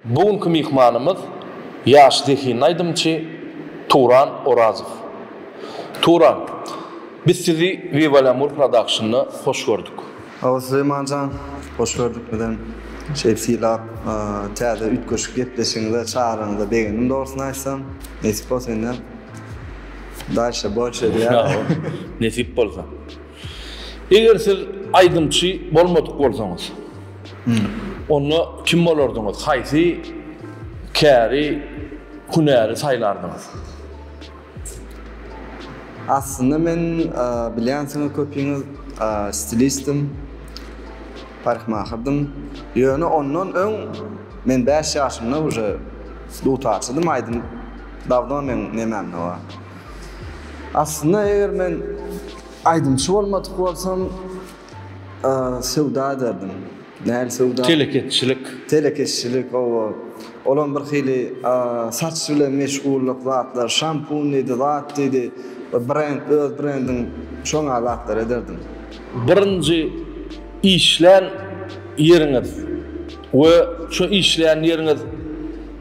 Bu günki myhmanymyz ýaş zehinli aýdymçy Turan Orazow. Turan, biz sizi Viva Lamur Production-a hoş gördük. Sag bol Süleýmanjan, hoş gördük bizem. Şeýdip sylap, täze üýtgeşik gepleşigiňize, çagyryňyza begendim dogrusyn aýtsam. Nesip bolsa indi. Daşa bolş edýär. Nesip bolsa. Eger siz aýdymçy bolmadyk bolsaňyz, onda kim bolardyňyz? Haýsy käri hünäri saýlardyňyz? Aslynda men bilýänsiňiz köpüňiz stilistim, paryhmahyrdym. Ýöne ondan öň men bäş ýaşymda uje dutarçydym, aýdym Dawno men nemem hawa. Aslynda eger men aýdymçy bolmadyk bolsam söwda ederdim. Nähili söwda? Telekeçilik. Telekeçilik oba. Olam bir hili saç bilen meşgullyk zatlar, şampun diýdi, zat diýdi, brend, öz brendiň şo ňa zatlar ederdim. Birinji işlän ýeriňiz we şo işlän ýeriňiz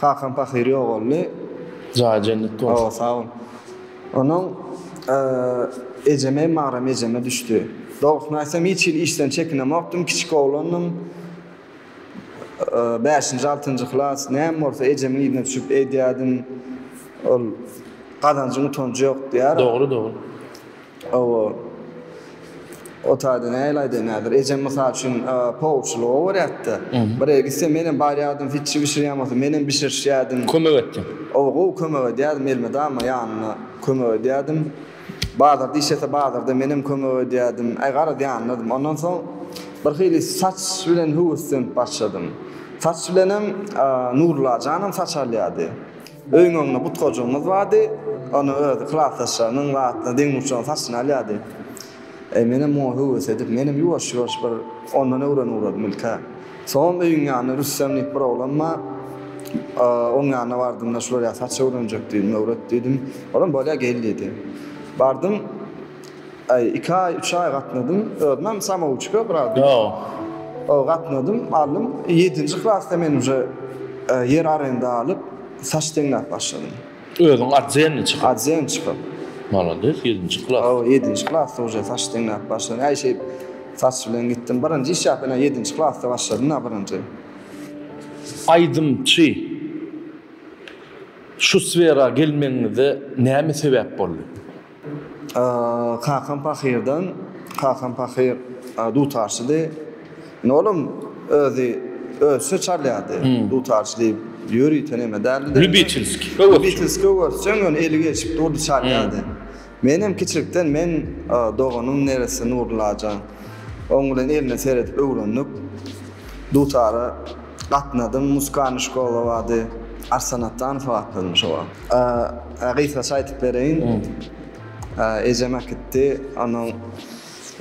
Kakam pahyr ýogaldy. Jaýy jennetde bolsun. Hawa sag bol. Onuň ejeme Magram ejeme düşdi. Dogrusyny aýtsam hiç hili işden çekinemokdym kiçik oglandym. Bäşinji altynjy klas näme bolsa ejemiň yzyna düşüp edýädim. Ol gazanjyň utanjy ýok diýýär. Dogry dogry. Hawa. O taýda nähili aýdaýyn häzir. Ejem mysal üçin poowçylyga owarýardy-da. Bir ýere gitse menem barýardym, hiçji bişirýän bolsa menem bişirişýärdim. Kömek etdiň. Hawa, gowy kömek edýärdim. Elmydama ýanynda kömek edýärdim. Bazarda işlese bazarda menem kömek edýärdim. Aý garaz ýanyndadym. Ondan soň birhili saç bilen höweslenip başladym. Saç bilenem Nurullajanam saç alýardy. Öýüň öňünde butgajygymyz bardy. Ony öz klasdaşlarynyň we atyna deň urçunyň saçyny alýardy. Menem muňa höwes edip, menem ýuwaş-ýuwaş bir ondan öwrenip ugradym ilk-ä. Soňam öýüň ýanynda Rüstem diýip bir oglan bar. Oň ýanyna bardym-da, şular ýaly saç öwrenjek diýdim, öwret diýdim. Olam bolýa gel diýdi. Bardym. Aý, iki aý, üç aý gatnadym. Özümem samouçka biraz bir. Ýa. O gatnadym, aldym. Ýedinji klasda men uje ýer arenda alyp, saç deňläp başladym. Özüň arzenni çykyp? Arzen çykyp. Malades, ýedinji klas. Hawa, ýedinji klasda uje saç deňläp başladym. Aý, şeýdip saç bilen gitdim. Birinji iş ýa ýene ýedinji klasda başladym-da birinji. Aýdymçy şu sfera gelmegiňize näme sebäp boldy? Kakam pahyrdan, kakam pahyr dutarçydy. Indi olam özi ösüşe çalýardy. Dutarçy diýip ýörite neme däldi-de. Lýubiçelskiý öwezçi. Lýubiçelskiý öwezçi, ýöne eli gelşik durdy, çalýardy. Men hem kiçilikden men doganym neresse Nurullaja. Oň bilen eline seredip öwrendik. Dutara gatnadym, musikaliýny şkola bardy. Arsan Atdanowa atlandy şo wagt. Gysgaça aýtyp bereýin. Ejem äkitdi. Onuň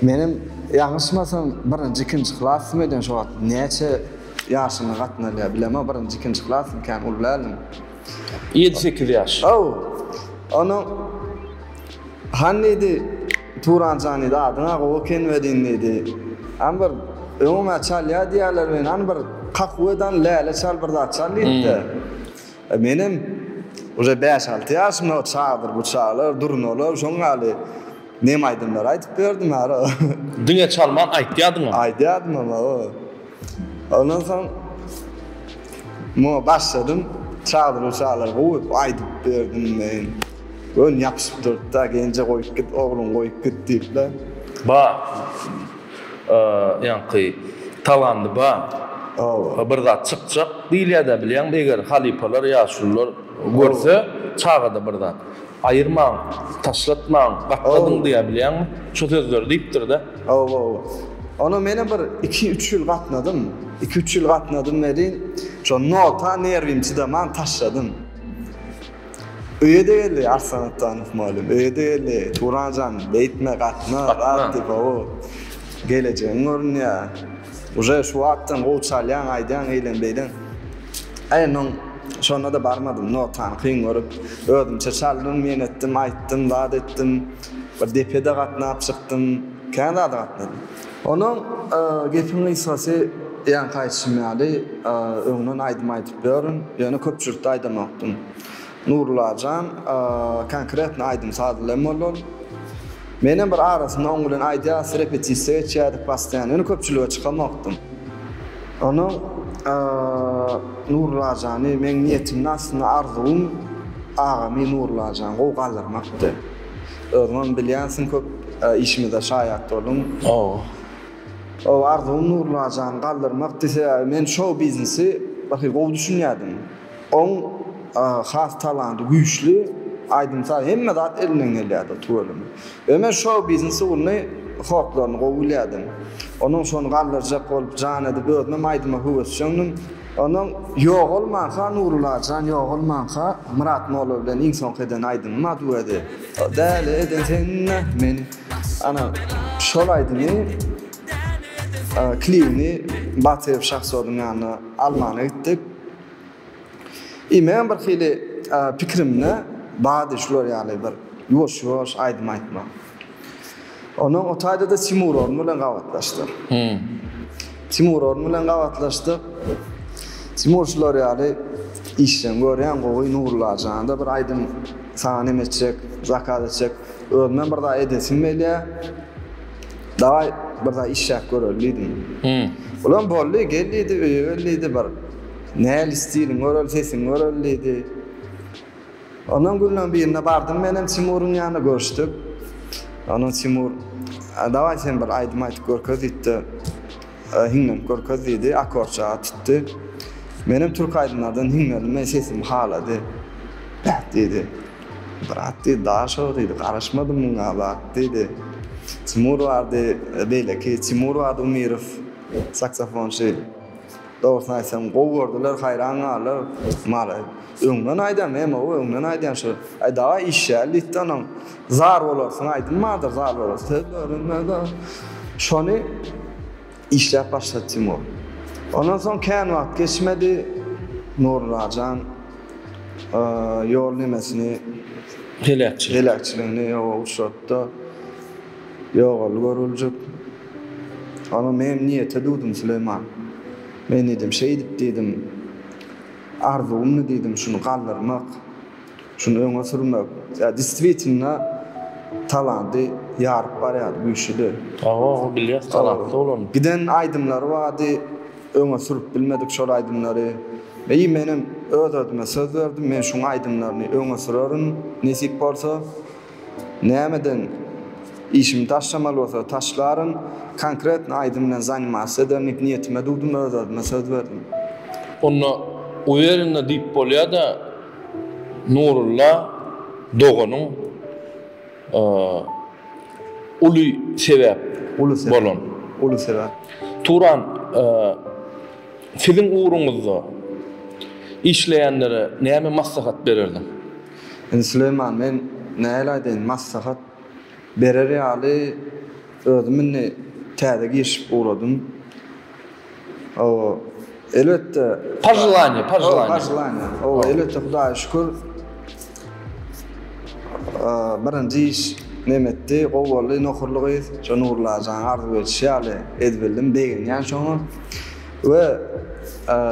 menem ýalňyşmasam birinji ikinji klasym eden şo wagt. Näçe ýaşyma gatnalýar bilemok. Birinji ikinji klasym kän uly däldim. Ýedi sekiz ýaş. Haw. Onuň Hany diýdi Turan jan diýdi adyň-a gowy eken welin diýdi. Hany bir öňüň-ä çalýar diýýärler welin hany bir kakuwedan läle çal bir zat çal diýipdi. Menem uje bäş-alty ýaşymda çadyr buçalar, durnalar, şoň ýaly nem aýdymlar aýdyp berdim ara. Diňe çalman aýtýadyňam. Aýdýadymam awa. Ondan soň muňa başladym. Çadyr buçalar goýup aýdyp berdim men. Göni ýapyşyp durdy-da, Genje goýup git, ogluňy goýup git diýip-le. Ba. Ýaňky talandy ba. Hawa. Bir zat çykjak diýilýädä bilýäňmi eger halypalar ýaşulylar görse çagada bir zat. Aýyrmaň taşlatmaň gatladyň diýä bilýäňmi şu sözleri diýipdirda. Hawa hawa. Ona menem bir iki üç ýyl gatnadym. Iki üç ýyl gatnadym welin şo nota nerwim çydaman taşladym. Öýe-de geldi, Arslan Atdanow mugallym, öýe-de geldi. Turan jan, beýtme, gatna, gat diýip-ow. Gelejegiň görünýär. Uje şu wagtdan gowy çalýaň, aýdýaň, eýlem-beýlem. Aý, men şonda-da barmadym, notany kyn görüp. Özümçe çaldym, men etdim, aýtdym, zat etdim. Bir depe-de gatnap çykdym. Kän zada gatnadym. Onuň gepiň gysgasy ýaňky aýdyşym ýaly, öňden aýdym aýdyp ýörün, ýöne köpçülikde aýdamakdym. Nurullajan konkretno aýdym-saz bilen boldy ol. Menem bir arasynda oň bilen aýdýas, repetisiýa geçýärdik postoýan, ýöne köpçülige çykamakdym. Onuň Nurulajany meň niýetimde aslynda arzuwym agamy Nurullajan gowy galdyrmakdy. Özüňem bilýänsiň köp işimize şaýat bolduň. Hawa. Ow arzuwym Nurlajan galdyrmak dise men şou biznesi gaty gowy düşünýädim. Oň has talanty güýçli aýdym saz hemme zat elinden gelýädi tüweleme. Ýöne men şou biznes ugruny hotlaryny gowy bilýädim. Onuň şony galdyrjak bolup jan edip özümem aýdyma höwesjeňdim. Ondan Ýogalmanka Nury Lajan Ýogalmanka Myrat Molla bilen iň soňky eden aýdymym a duedi. Däli eden sen-ä meni. Ana, şol aýdymy klibini Batyr Şahsodyň ýanyna almana gitdik. I meň birhili pikirimde bady şular ýaly bir ýuwaş-ýuwaş aýdym aýtmak. Ondan o taýda-da Timur Orun bilen gabatlaşdyk. Timur Orun bilen gabatlaşdyk. Timur şular ýaly işleň görýän gowy Nurulla jana-da bir aýdym saňa neme etjek, zakaz etjek. Özümem bir zat edesim gelýär. Dawaý, bir zat işläp göreli diýdim. Olam boldy, gel diýdi, öýe gel diýdi, bir nähili stiliň göreli, sesiň göreli diýdi. Ondan günleň birinde bardym menem Timuryň ýanyna görüşdik. Ondan Timur, Dawaý sen bir aýdym aýdyp görkez diýdi. Hiňlenip görkez diýdi, akorçaga tutdy. Menem türk aýdymlardan hiňlendim, men sesimi halady. Beh diýdi. Brat diýdi, daş şo diýdi, garaşmadym muňa bak diýdi. Timur bardy, beýleki Timur bardy Umirow, saksofonçy. Dogrusyny aýtsam gowy gördüler haýran galdylar maly öňden aýdam ýa mawy öňden aýdýan şo aý dawa işýäl diýipdi onuň zar bolarsyň aýdym bardyr zar bolarsyň söz bölünmez o şony işläp başlady Timur ondan soň kän wagt geçmedi Nury Rajan ýol nemesini Pelekçilik. pelekçiligini ýoga uçratdy. Ýogaly görüljek. Onuň menem niýete dudum Süleýman. Men diýdim, şeýdip diýdim, arzuwymdy diýdim şuny galdyrmak, şuny öňe sürmek. Ýa distwitnda talanty ýaryp barýardy, güýçlüdi. Hawa, bilýäs talantly bolanyny. Giden aýdymlary bardy, öňe sürüp bilmedik şol aýdymlary. Eý menem öz özüme söz berdim, men şuň aýdymlaryny öňe sürerin, nesip bolsa. Nämeden işimi taşlamaly bolsa taşlaryn konkretno aýdym bilen zanimasiýa edernik niýetime dugdum öz özüme söz berdim. Onda uwerenne diýip bolýada Nurulla doganyň uly sebäp bolan. Uly sebäp. Turan siziň ugruňyzda işleýänlere näme maslahat bererdiň? Indi Süleýman men nähili aýdaýyn maslahat berer ýaly özüm indi täze girişip ugradym. Hawa, elbetde, Pojelaniýe, pojelaniýe. Hawa, pojelaniýe. Hawa, elbetde Hudaýa şükür birinji iş nem etdi, gowy boldy, nohurly gyz, şo Nurulla ajanyň arzuw edişi ýaly edip bildim, begenýän şoňa. We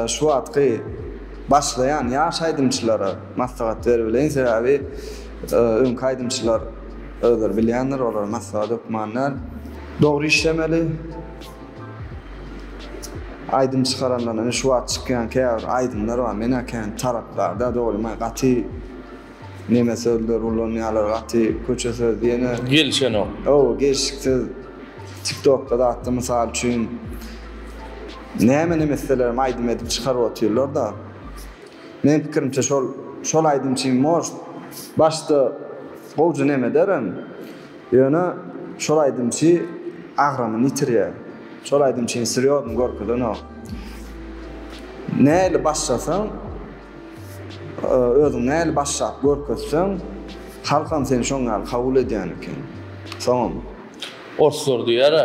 şu wagtky başlaýan ýaş aýdymçylara, Maslahat beribeleýin, sebäbi öňki aýdymçylar özleri bilýändir, olara maslahat hökman däl. Dogry işlemeli. Aýdym çykarandan ine şu wagt çykýan käbir aýdymlar bar. Men-ä kän tarapdar däl, dogrymy gaty neme sözler ulanýarlar, gaty köçe söz diýeni. Gelişenok. Hawa, gelşiksiz. Tiktokda zatda mysal üçin näme-näme islelerem aýdym edip çykaryp otyrlar-da. Meň pikirimçe şol şol aýdymçy most başda gowja name ederem ýöne şol aýdymçy agramyny ýitirýä şol aýdymçyny srýozny görkezenok näli başlasaň özüň näli başlap görkezseň halkam seni şoň ýaly kabul edýän eken soňam. Orslar diýara.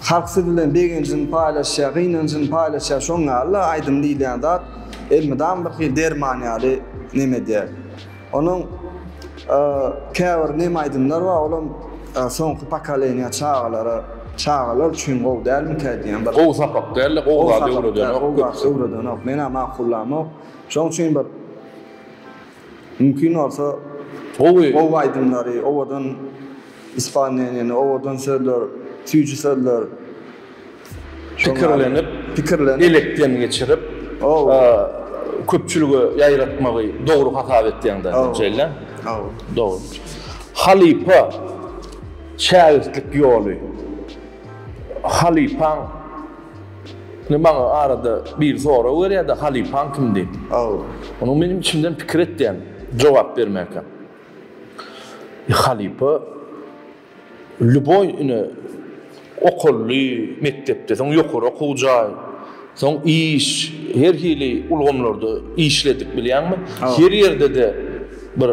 Halk siz bilen begenjini paýlaşýar, gynanjyny paýlaşýar, şoň ýaly-la aýdym diýilýän zat elmydam bir hili derman ýaly neme edýär. Onuň käbir neme aýdymlar bar, olam soňky pokoleniýa çagalara, çagalar üçin gowy dälmikä diýýän bir. Gowy sapak däl-de, gowy zat öwredenok köpüsi. Gowy zat öwredenok. Men-ä makullamok. Şoň üçin bir. Mümkin bolsa gowy aýdymlary, owadan ispalneniýany, owadan sözler, süýji sözler, pikirlenip, elekden geçirip köpçülige ýaýratmagy dogry hasap etýäň da, şeýle? Hawa. Dogry. Halypa şägirtlik ýoly. Halypaň. Indi maňa arada biri sorag berýärdi, halypaň kim diýip. Aw. Onuň menem içimden pikir etýän jogap bermäkä. E, halypa lýuboý ine okully, mekdepde, soň ýokary okuw jaý, soň iş, her hili ulgamlarda işledik bilýäňmi? Her ýerde-de bir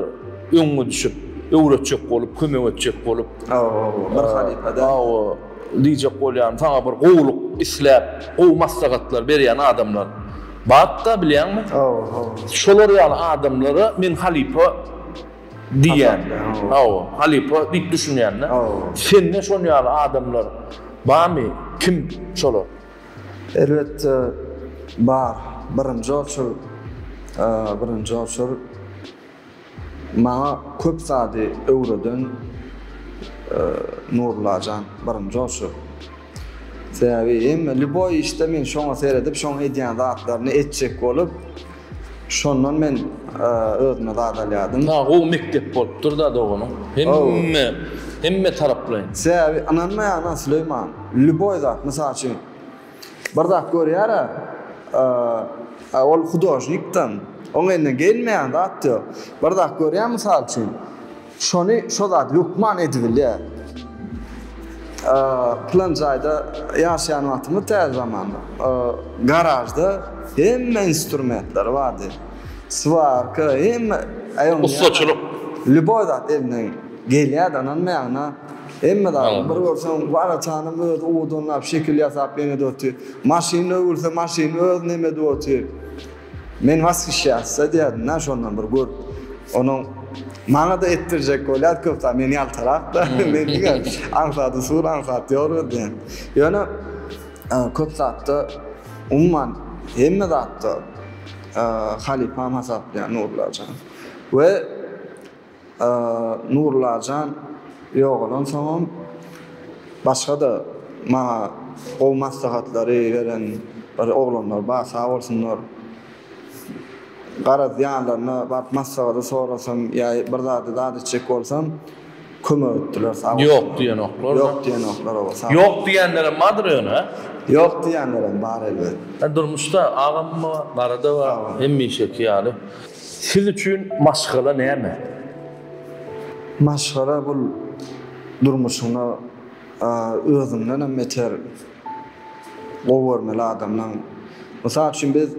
öňüňe düşüp, öwretjek bolup, kömek etjek bolup. Aw, aw, bir halypa-da. Aw. Diýjek bolýan saňa bir gowulyk isläp gowy maslahatlar berýän adamlar batda bilýäňmi? Şolar ýaly adamlara men halypa diýýän. Hawa, halypa diýip düşünýände. Sende şon ýaly adamlar barmy? Kim şolar? Elbetde bar. Birinji oçur, birinji oçur. Maňa köp zady öwreden Nurullajan birinji bolşy. Sebäbi hemme lýuboý işde men şoňa seredip şoň edýän zatlaryny etjek bolup şondan men özüme zat alýadym. Saňa gowy mekdep bolupdyrda doganym. Hemme hemme taraplaýyn. Sebäbi ynanmaýaryn Süleyman lýuboý zat mysal üçin. Bir zat görýär-ä, a-a ol hudožnikden oň eline gelmeýän zat ýok. Bir zat görýär, mysal üçin, şony, şo zady hökman edibilýär. A-a pylan jaýda ýaşaýan wagtymda täze zamanda, a-a garažda hemme instrumentler bardy. Swarka, hemme, aý onda ýaňy. Ussaçylyk. Lýuboý zat elinden gelýär-de, ynanmaýaňyz-a. Hemme zady bir görseň bar etanam öz uwudynlap şekil ýasap ýenede otyr. Maşyny öwürse maşyny öz neme edip otyr. Men washyşýassa diýýärdim-dä şondan bir görüp. Onuň maňada etdirjek bolýar köp zat men ýaltarak-da men diňe aňsady sur aňsady ýor ödýän. Ýöne köp zatda umuman hemme zatda halypam hasaplaýan Nurlajan. We Nurulajan ýogalansoňam, başga-da maňa gowy maslahatlary beren bir oglanlar bar, sag bolsunlar. Garaz, ýanlaryna baryp maslahady sorasam ýa bir zady zat etjek bolsam, kömek etdiler, sag bolsunlar. Ýok diýenoklar. Ýok diýenoklar, hawa, sag bolsunlar. Ýok diýenlerem bardyr ýöne? Ýok diýenlerem bar, elbet. Durmuşda agam-da bar, gara-da bar, hemişeki ýaly. Siz üçin maşgala näme? Maşgala bul durmuşyňda özüňden hem beter gowy görmeli adamlaň. Mysal üçin biz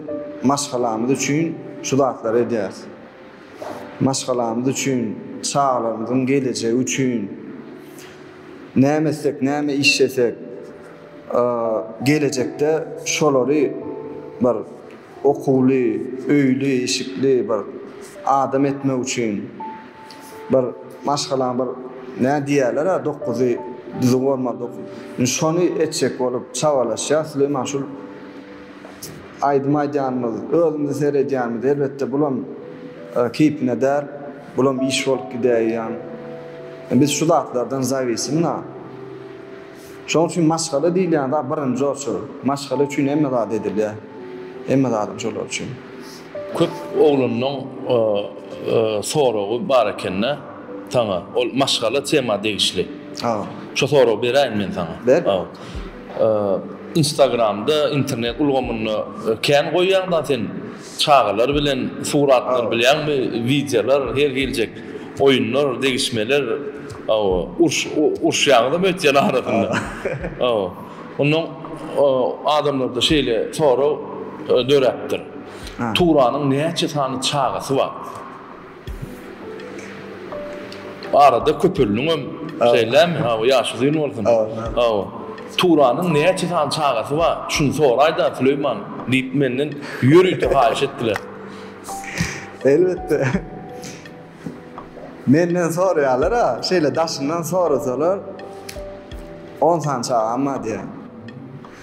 maşgalamyz üçin şu zatlary edýäris. Maşgalamyz üçin, çagalarymyzyň gelejegi üçin näme etsek, näme işlesek gelejekde şolary bir okuwly, öýli, işikli bir adam etmek üçin bir maşgalaň bir nä diýýärler-ä dokuzy düzüw bolmaly dok. Indi şony etjek bolup çabalaşýas. Süleýman şul aýdym aýdýanymyz, özümizi seredýänimiz elbetde bulam keýpine däl. Bulam iş bolup gidäýýän. Biz şu zatlardan zawisimna. Şoň üçin maşgala diýilýän zat birinji oçur. Maşgala üçin hemme zat edilýär. Hemme zadyň şolar üçin. Köp oglanlaň soragy bar ekende saňa ol maşgala tema degişli. Şo soragy beräýin men saňa. Ber. Instagramda internet ulgamynda kän goýýaň da sen. Çagalar bilen suratlar bilýäňmi wideolar her geljek oýunlar degişmeler uruş uruşýaňyzam öýtýän arasynda ondan adamlarda şeýle sorag döräpdir Turanyň näçe sany çagasy bar. Arada köpeldiňem şeýlemi hawa ýaş uzyn bolsun hawa Turanyň näçe sany çagasy bar şuny soraýda Süleýman diýip menden ýörite haýyş etdiler. Elbetde menden soraýarlar a şeýle daşyndan sorasalar on sany çagam bar diýýän.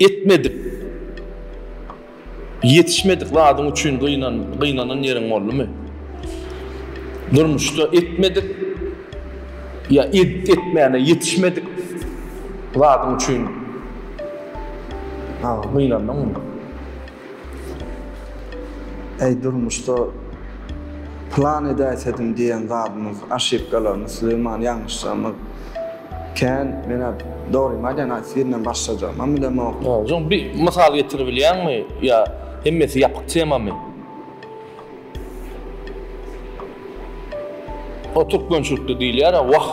Etmedik, ýetişmedik zadyň üçin gynanan ýeriň boldumy? Durmuşda etmedik ýa edip etmäne ýetişmedik zadyň üçin gynandyňmy? Eý durmuşda plan edäýsedim diýen zadymyz aşypkalarymyz Süleýman ýalňyşlarymyz kän menä dogrymy aýdaýyn aýtsy birinden başlajagymam bilemok. Hocam bir mysal getiribilýäňmi ýa hemmesi ýapyk temamy? O türkmençilikde diýilýär wah.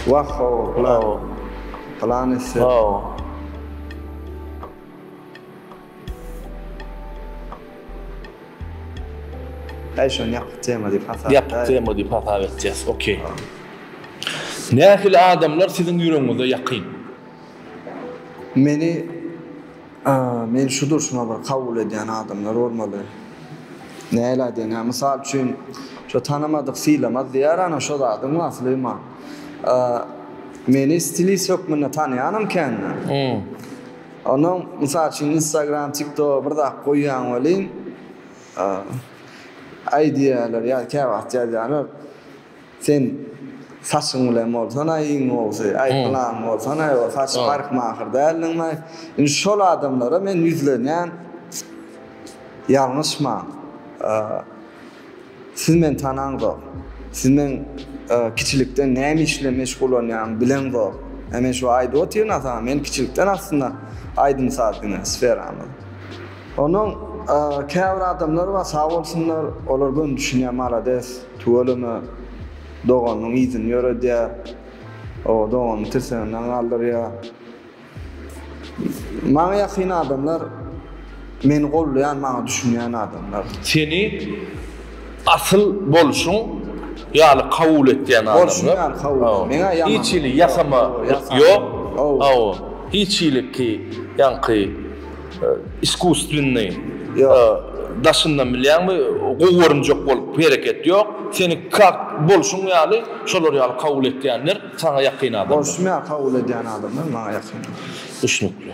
Wah hawa plan plan etsek. Hawa. Häý şony ýapyk tema diýip hasap edäýelim. Ýapyk tema diýip hasap etjäs. Ok. Nähili adamlar siziň ýüregiňize ýakyn? Meni meni şu durşuma bir kabul edýän adamlar bolmaly. Nähili aýdaýyn ýa mysal üçin şo tanamadyk sylamaz diýer ana şo zadyň asly man. Meni stilist hökmünde tanaýanam kändir. Onuň mysal üçin instagram tiktoga bir zat goýýaň welin aýdýarlar ýa käwagt ýazýarlar sen saçyň bilen bolsana iň gowusy aý pylan bolsana ýa saçy parykmaher däldiňmi aý indi şol adamlara men ýüzlenýän ýalňyşman. Siz meni tanaňzok. Siz meň kiçilikden näme iş bilen meşgullanýanymy bileňzok. Ä men şu aýdyp otyryn-a saňa, men kiçilikden aslynda aýdym-saz diňe sferamyz. Onuň käbir adamlary bar, sag bolsunlar, olar göni düşünýär, malades, tüweleme, doganynyň yzyny ýöredýär, o doganyny tirseginden galdyrýar. Maňa ýakyn adamlar meni goldaýan maňa düşünýän adamlar. Seni asyl bolşuň ýaly kabul etýän adamlar. Bolşuň ýaly kabul et. Meňä ýaman. Hiç hili ýasama ýok. Hawa. Hiç hili ki ýaňky iskusstwennyi daşyndan bilýäňmi gowy görünjek bolup hereket ýok. Seni kak bolşuň ýaly şolar ýaly kabul etýänler. Saňa ýakyn adamlar. Borçlumy-a kabul edýän adamlar maňa ýakyn adamlar. Düşnükli.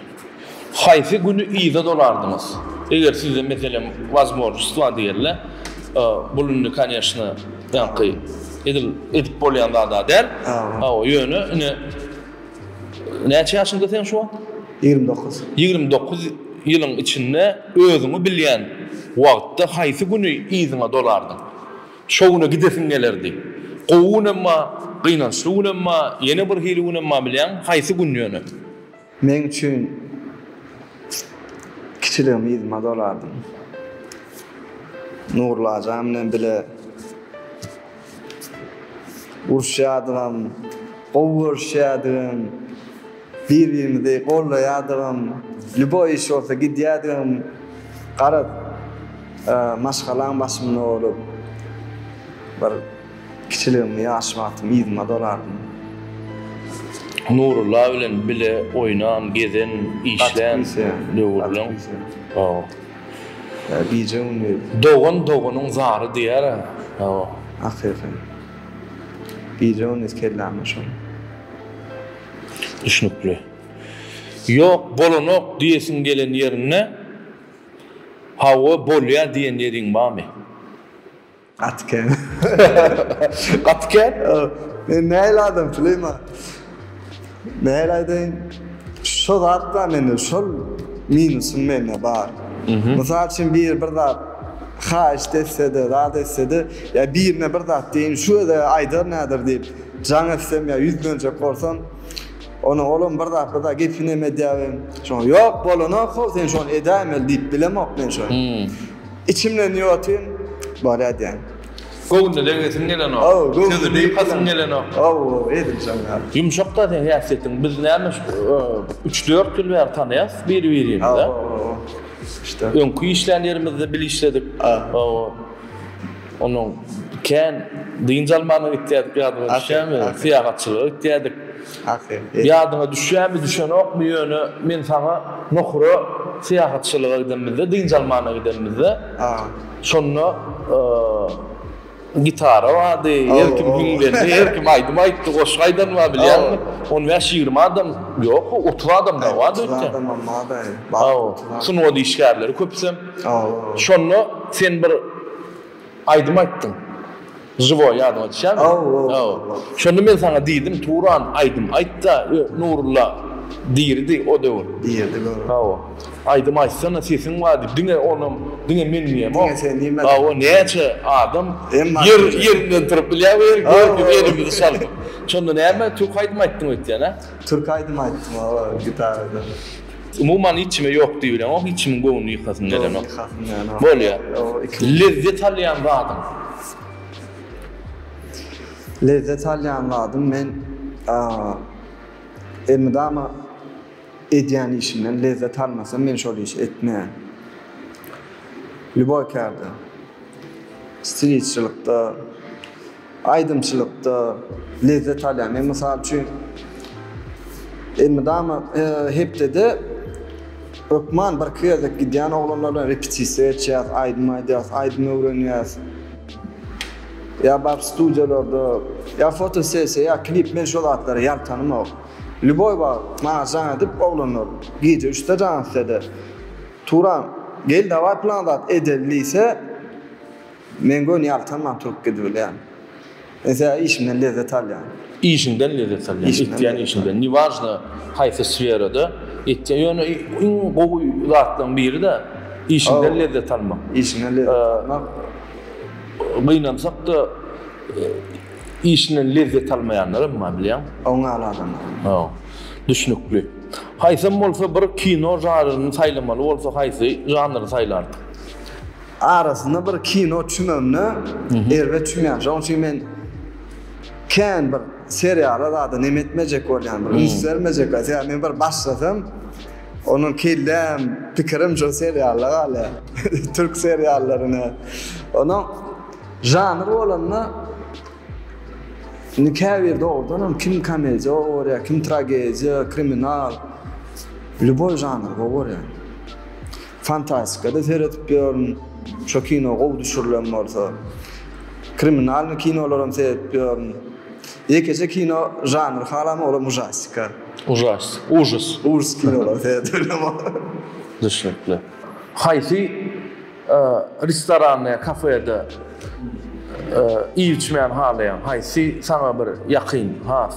Haýsy güni yza dolardyňyz? Eger size meselem wazmorjstwa diýerler, bul indi kanyýeşna ýaňky edil edip bolýan zad-a däl. Hawa, ýöne ine näçe ýaşyňda seň şu wagt? Ýigrimi dokuz. Ýigrimi dokuz ýylyň içinde özüňi bilýän wagtda haýsy güni yzyňa dolardyň? Şo güne gidesiň gelerdi. Gowy günem bar, gynançly günem bar, ýene bir hili günem bar bilýäňmi? Haýsy gün ýöne? Meň üçin kiçiligim yzyma dolardyň. Nurlajan bilen bile uruşýardygym, gowy görüşýärdigim. Bir-birimizi goldaýadygym, lýuboý iş bolsa gidýädigim, garaz, maşgalaň başynda bolup, bir kiçiligimi, ýaş wagtymy yzyma dolardym. Nurulla bilen bile oýnan, gezen, işlän döwürleň. Hawa. Gije-gündiz. Dogan doganyň zary diýer-ä. Hawa. Akyýka. Gije-gündiz kelläme şol. Düşnükli. Ýok, bolanok diýesiň gelen ýerinde Hawa, bolýar diýen ýeriň barmy? Gaty kän. Gaty kän? Men nähili adam Süleýman? Nähili aýdaýyn? Şo zat bar mende, şol minusym mende bar. Mysal üçin biri bir zat haýyşt etse-de, zat etse-de, ýa birine bir zat diýeýin, şu özä aýdar näder diýip, Jaň etsem ýa ýüzlenjek bolsam, onda olam bir zatda-da gepinem edýäbem. Şoňa ýok, bolanok how, sen şony edäýmeli diýip bilemok men şony. Içimden diýip otyryn, Bolýa diýýän. Göwnüne degesiň gelenok. How, göwnüme degmesem gelenok. How, edil şoň ýaly. Ýumşak-da seň häsiýetiň. Biz näme üç-dört ýyl bäri tanaýas bir-birimizi. How, how, how. Öňki işlän ýerimizde bil işledik. How. Ondan kän dynç almana gitýärdik ýadyňa düşýärmi? Syýahatçylyga gitýärdik. Ýadyňa düşýärmi, düşenokmy ýöne men saňa Nohura syýahatçylyga gidenimizde, dynç almana gidenimizde, şonda gitara bardy, her kim hüň berdi, her kim aýdym aýtdy, goşgy aýdan bar bilýäňmi? On bäş-ýigrimi adam, ýok, otuz adam dagy bardy öýtýän. Sungat işgärleri köpüsem. Şonda sen bir aýdym aýtdyň. Žiwoý ýadyňa düşýärmi? Şonda men saňa diýdim, Turan, aýdym aýt-da, Nurulla diridi o döwür. Diridi gör. Hawa. Aýdym aýtsana, sesiň bar diýip, diňe onam, diňe men diýemok. Diňe sen diýmedin. Hawa, näçe adam ýerinden turup bilýär we gördük elimizi çaldyk. Şonda näme, türk aýdym aýtdyň öýtýän-ä? Türk aýdym aýtdym, hawa, gitaradan. Umuman hiç kime ýok diýibileňok, hiç kimiň göwnüni ýykasyn gelenok. Bolýar. Lezzet alýan zadyň. Lezzet alýan zadym men elmydama edýän işimden lezzet almasam men şol işi etmeýän. Lýuboý kärde, stilistçilikde, Aýdymçylykda lezzet alýan. Men mysal üçin elmydama hepdede hökman bir iki gezek gidýän oglanlar bilen repetisiýa geçýäs, aýdym aýdýas, aýdym öwrenýäs. Ýa baryp studiýalarda, ýa fotosessiýa, ýa klip men şo zatlara ýaltanymok. Lýuboý wagt maňa jaň edip oglanlar gije üçde jaň etse-de, Turan, gel dawaý plan zat edeli diýse, Men göni ýaltanman turup gidibilýän. Ese işimden lezzet alýan. Işiňden lezzet alýan, etýän işiňden, ne wažno haýsy sferada etýän, ýöne iň gowy zatlaryň biri-de işiňden lezzet almak. Işiňden lezzet almak. Gynansak-da, işinden lezzet almaýanlaram bar bilýäň. Oňňaly adamlar. Hawa. Düşnükli. Haýsam bolsa bir kino žaryryny saýlamaly bolsa haýsy žanry saýlardyň? Arasynda bir kino çümemine erbet çümýän. Şonuň üçin men kän bir seriala zada neme etmejek bolýan, bir üns bermejek. Sebäbi men bir başlasam, onuň kelläm, pikirim şo seriala galýar. Türk seriallaryna. Onuň žanr bolanda indi käbir dogrudan hem kim komediýa gowy görýär, kim tragediýa, kriminal. Lýuboý žanr gowy görýän. Fantastikada seredip ýörün. Şo kino gowy düşürilen bolsa. Kriminalnyý kinolaram seredip ýörün. Ýekeje kino žanr halamy olam ujastika. Ujastik, ujus. Ujus kinolary seredip bilem. Düşnükli. Haýsy restoranda ýa kafede iýip içmäni halaýaň? Haýsy saňa bir ýakyn, has?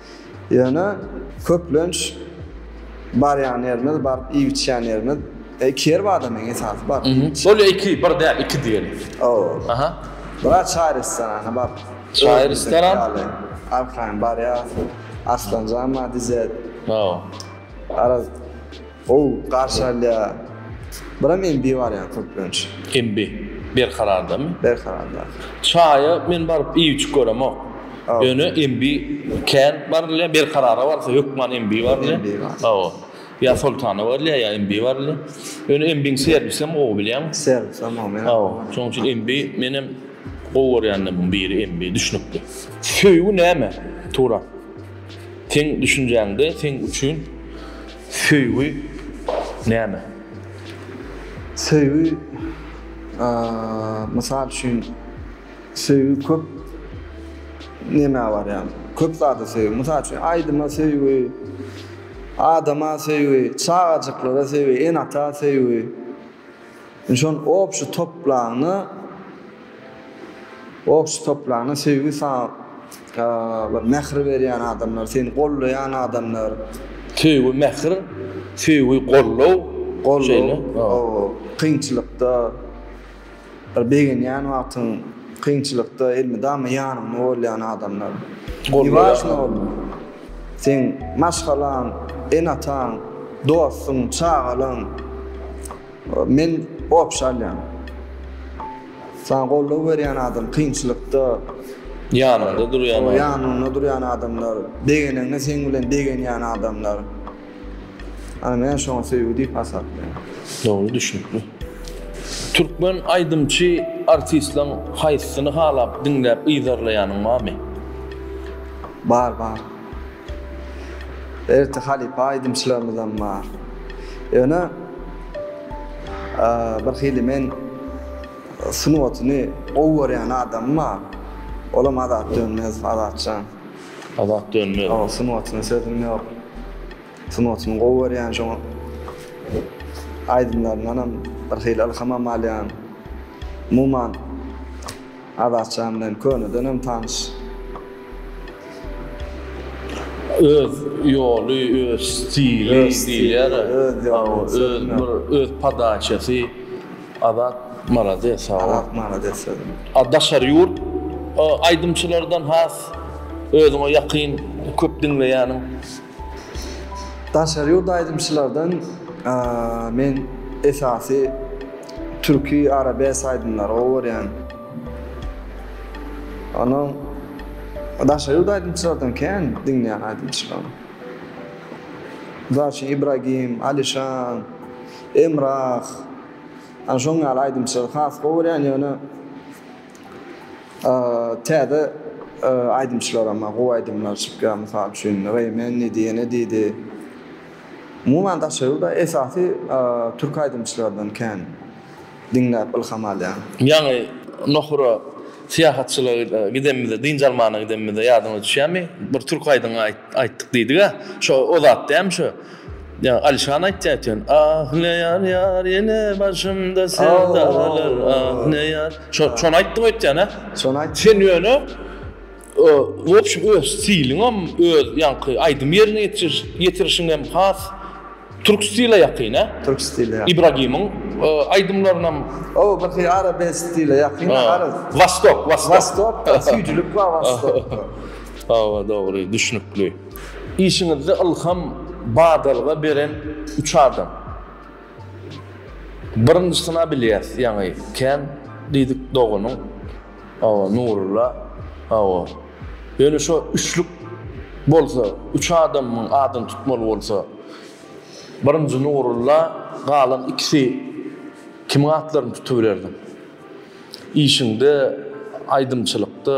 Ýöne köplenç barýan ýerimiz, baryp iýip-içýän ýerimiz, iki ýer bar-da meň esasy baryp iýip-içýän. Ol ýa iki, bir däl, iki diýeli. Hawa. Aha. Bira çaý restoranyna baryp. Çaý restoran? Arkaýyn barýas. Arslanjan bar, Dizet. Hawa. Araz. Gowy garşy alýar. Buram MB barýar köplenç. MB. Berkarardamy? Berkararda. Çaýa men baryp iýuçyk göremok. Ýöne MB kän barylýar. Berkarara barsa hökman MB barylýar. MB bar. Hawa. Ýa Soltana barylýar, ýa MB barylýar. Ýöne MB-niň serwisem gowy bilýäňmi? Serwisem gowy, men. Hawa. Şonuň üçin MB menem gowy görýänlerimin biri MB düşnükli. Söýgi näme? Turan. Seň düşünjäňde seň üçin Söýgi näme? Söýgi, mysal üçin, söýgi köp nämä barýar? Köp zada söýgi. Mysal üçin, aýdyma söýgi, adama söýgi, çagajyklara söýgi, ene-ata söýgi. Şonuň obşi toplanyna. Oh şu topragyna söýgi salyp bir mähir berýän adamlar seni gollaýan adamlar. Söýgi mähir söýgi gollow şeýle gollaw kynçylykda bir begenýän wagtyň kynçylykda elmydama ýanyňda bolýan adamlar ne wažno seň maşgalaň ene ataň dostuň çagalaň. Men gops alýan. Saňa goldaw berýän adam kynçylykda. Ýanyňda durýan adam. Ýanyňda durýan adamlar. Begeneňde seň bilen begenýän adamlar. Ana men şoňa söýgi diýip hasaplaýan. Dogry düşnükli. Türkmen aýdymçy artistlaň haýsysyny halap diňläp yzarlaýanyň barmy? Bar bar. Erti halypa aýdymçylarymyzam bar. Ýöne birhili men sungatyny gowy görýän adamym bar. Olam Azat Dönmezow, Azatjan. Azat Dönmezow. Hawa, sungatyna sözüm ýok. Sungatyny gowy görýän, şoňa aýdymlaryndanam birhili ylhamam alýan. Umuman, Azatjan bilen könedenem tanyş. Öz ýoly, öz stili diýilýär. Öz bir öz podaçasy. Azat malades sag bol. Azat malades sözüne. A daşary ýurt aýdymçylardan has özüňe ýakyn köp diňleýäniň? Daşary ýurt aýdymçylardan men esasy Türki arabes aýdymlary gowy görýän. Ony daşary ýurt aýdymçylardan kän diňleýän aýdymçylarym. Mysal üçin Ibragim, Alişan, Emrah. Ana şoň ýaly aýdymçylary has gowy görýän ýöne täze aýdymçylaram bar gowy aýdymlar çykýar mysal üçin Reýmen diýdi ýene diýdi. Umuman Daşoguzda esasy türki aýdymçylardan kän diňläp ylham alýan. Ýaňy Nohura syýahatçylyga gidenimizde, dynç almana gidenimizde ýadyňyza düşýärmi? Bir türki aýdym aýtdyk diýdiga. Şo o zat dälmi şo? Ýa Alişan aýtýa eken. Ah ne ýar ýar ýene başymda sevdalar ah ne ýar. Şony aýtdyň öýtýän hä? Şony aýtdym. Sen ýöne W opşum öz stiliňem öz ýaňky aýdym ýerine ýetiriş ýetirişiňem has türk stile ýakyn a. Türk stile ýakyn. Ibragimiň aýdymlarynam. O birki arabes stile ýakyn garaz. Wastok wastok. Wastok da süýjülik bar wastokda. Hawa dogry düşnükli. Işiňizde ylham badalga beren üç adam. Birinjisina bilýäs ýaňy kän diýdik doganyň Hawa Nurulla hawa. Ýöne şo üçlük bolsa, üç adamyň adyny tutmaly bolsa, birinji Nurulla, galan ikisi kimiň atlaryny tutubilerdiň? Işiňde, aýdymçylykda.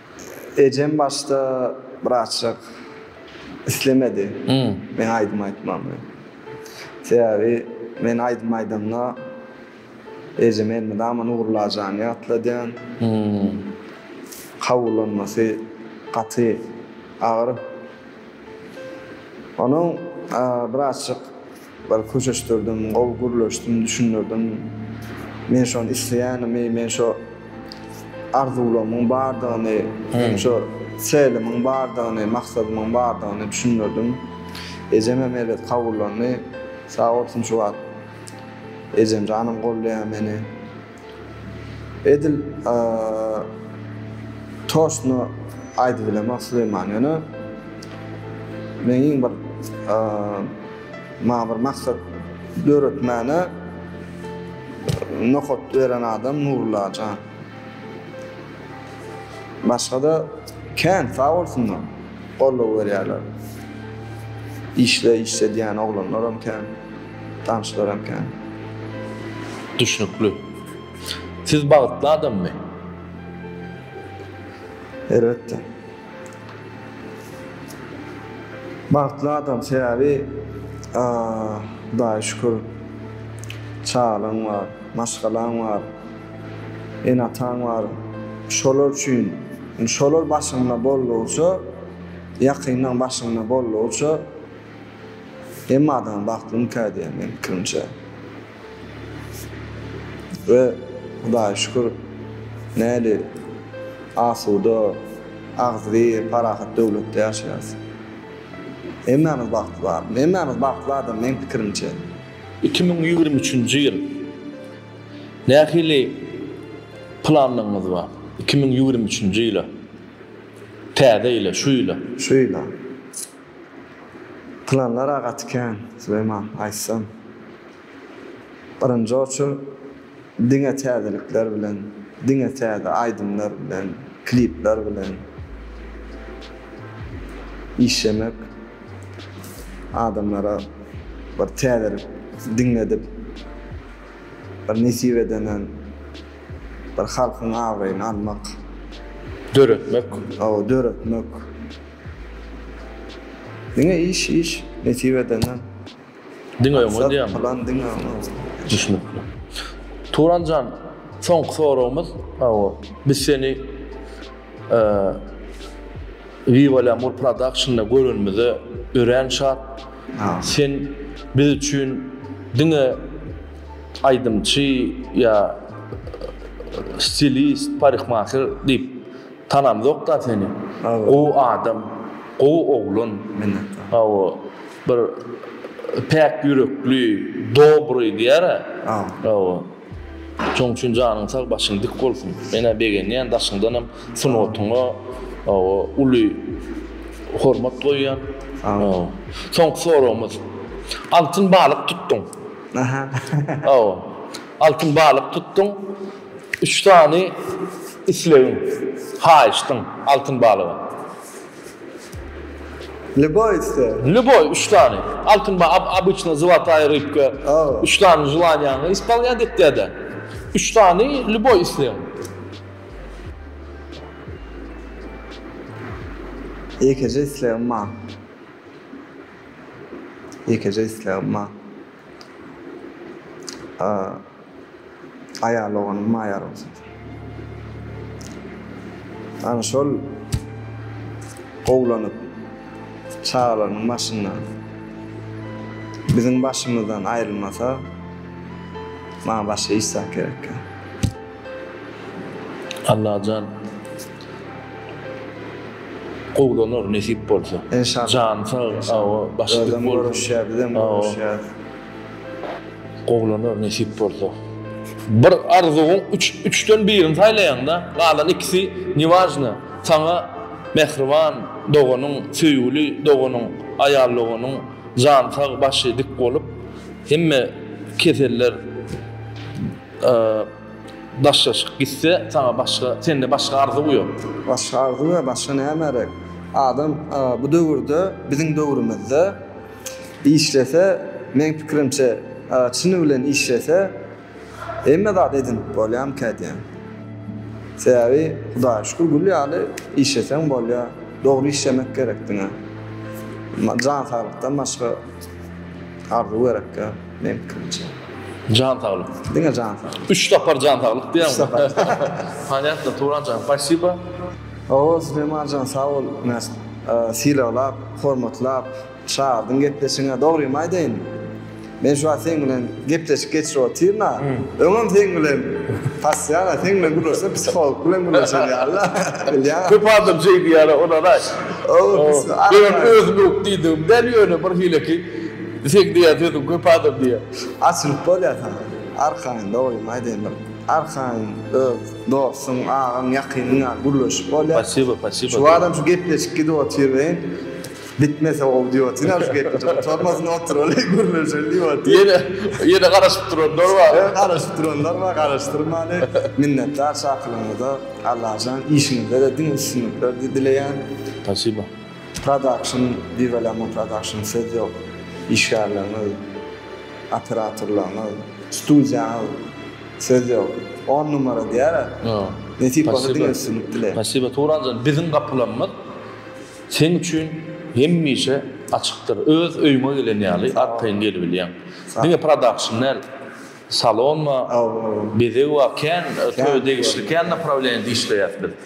Ejem başda birazjyk islemedi meň aýdym aýtmagymy. Sebäbi men aýdym aýdamda ejeme elmydama Nurulajany ýatladýan. Kabullanmasy gaty agyr. Onuň birazjyk Bar köşeşdirdim, gowy gürleşdim, düşündirdim. Men şony isleýänimi, men şo arzuwlarymyň bardygyny, meniň şo selimiň bardygyny, maksadymyň bardygyny düşündirdim. Ejem hem elet kabullandy. Sag bolsun şu wagt ejem janym goldaýar meni. Edil toştno aýdy bilemok Süleýman ýöne men iň bir maňa bir maksat döretmäne nokat beren adam Nurulla jan. Başgada kän sag bolsunlar goldaw berýärler. Işle işle diýýän oglanlaram kän. Tanyşlaram kän. Düşnükli. Siz bagtly adammy? Elbetde. Bagtly adam sebäbi Hudaýa şükür çagalaň bar, maşgalaň bar, ene-ataň bar. Şolar üçin, şolar başyňda boldugyça, ýakynlaň başyňda boldugyça, Hemme adama bagtly ynka diýýän meň pikirimçe. We Hudaýa şükür näli asuda, agzybir, parahat döwletde ýaşaýarys. Hemmämiz bagtly barmy? Hemmämiz bagtly adam meň pikirimçe. Iki müň ýigrimi üçünji ýyl nähili planlaryňyz bar? Iki müň ýigrimi üçünji ýyla, täze ýyla, şu ýyla? Şu ýyla. Planlar-a gaty kän, Süleýman, aýtsam. Birinji oçur diňe täzelikler bilen, diňe täze aýdymlar bilen, klipler bilen işlemek, adamlara bir täzelik diňledip, bir nesip edenem bir halkyň abraýyny almak. Döretmek. Hawa, döretmek. Diňe iş iş nesip edenden. Diňe öňe Maksat diýýämi? plan diňe öňe. Düşnükli. Turanjan, soňky soragymyz, hawa, biz seni eee, Viva La Mur Production-da görenimize örän şat. Sag ol. Sen biz üçin diňe aýdymçy ýa stilist, parikmaher diýip Tanamzokda seni. Gowy adam. Gowy oglan. Minnetdar. Hawa. Bir päk ýürekli, dobry diýara. Hawa. Şoň üçin janyň sag, başyň dik bolsun. Men-ä begenýän daşyňdanam sungatyňa hawa uly hormat goýýan. Hawa. Soňky soragymyz. Altyn balyk tutduň. Hawa. Altyn balyk tutduň, üç sany islegiň, haýyşdyň altyn balyga. Lýuboý isleg. Lýuboý üç sany. Altyn ba, ab, obyçna zlataýa rybka, Aw. üç sany želaniýaňy ispalnýat etýär-de. Üç sany lýuboý islegiň. Ýekeje islegim bar. Ýekeje islegim bar. Aýal oganyň maýar bolsun. Ana şol gowlanyp çagalarynyň başynda biziň başymyzdan aýrylmasa maňa başga iş zat gerekkä. Allajan gowlanar nesip bolsa. Enşallah. Jany sag awa başy dik bolsun. Özem görüşýär bizem görüşýäs. Gowlanar nesip bolsa. Bir arzuwyň üç üçden birini saýlaýaňda galan ikisi niwajna saňa mähriban doganyň söýgüli doganyň aýal doganyň jany sag başy dik bolup hemme keseller Daşlaşyk gitse saňa başga sende başga arzuw ýok. Başga arzuw ýa başga nämerek. Adam bu döwürde biziň döwrümizde işlese meň pikirimçe çyny bilen işlese hemme zat edinip bolýamyka diýýän. Sebäbi hudaýa şükür gül ýaly işleseň bolýa. Dogry işlemek gerek diňe. Jan saglykdan başga arzuw gerekka. Meňkimçe. Jan saglyk. Diňe jan saglyk. Üç sapar jan saglyk diýýäň. Üç sapar. Panyatno, Turanjan, paşşiba. Oho, Süleýmanjan, sag bol. Mena sylaglap, hormatlap çagyrdyň gepleşigiňe. Dogrymy aýdaýyn, men şu wagt seň bilen gepleşik geçirip otyryn-a. Öňem seň bilen Passiýan-a, seň bilen gürleşsem, psiholog bilen gürleşen ýaly-la. Bilýäňmi? Köp adam şeý diýýär-ä, onara-aý. Owo, psiholog. Özlük diýdigim däl, ýöne birhili ki, Sen diýýän sözüň köp adam diýýär. Açylyp bolýar saňa arkaýyn dogrymy aýdaýynda arkaýyn öz dostuň agaň ýakynyň ýaly gürleşip bolýar. Pasiba pasiba. Şu adam şu gepleşik gidip otyr welin bitmese gowy diýip otyryn aga şu gepleşik gutarmasyn otyraly gürleşeli diýip otyryn. Ýene ýene garaşyp duranlar bar. Ýene garaşyp duranlar bar garaşdyrmaly. Minnetdar çakylygyňyza Allajan işiňizde-de diňe üstünlikler dileýän. Pasiba. Production Viva Lemon Production söz ýok işgärleriňiz operatorlaryňyz studiýaňyz söz ýok on numara diýara nesip bolsa diňe üstünlik dileýin. Spasiba Turanjan biziň gapylarymyz seň üçin hemişe açykdyr öz öýüňe gelen ýaly arkaýyn gelibilýäň diňe production däl salon bar bezeg bar kän toýa degişli kän naprawleniýada işleýäs biz.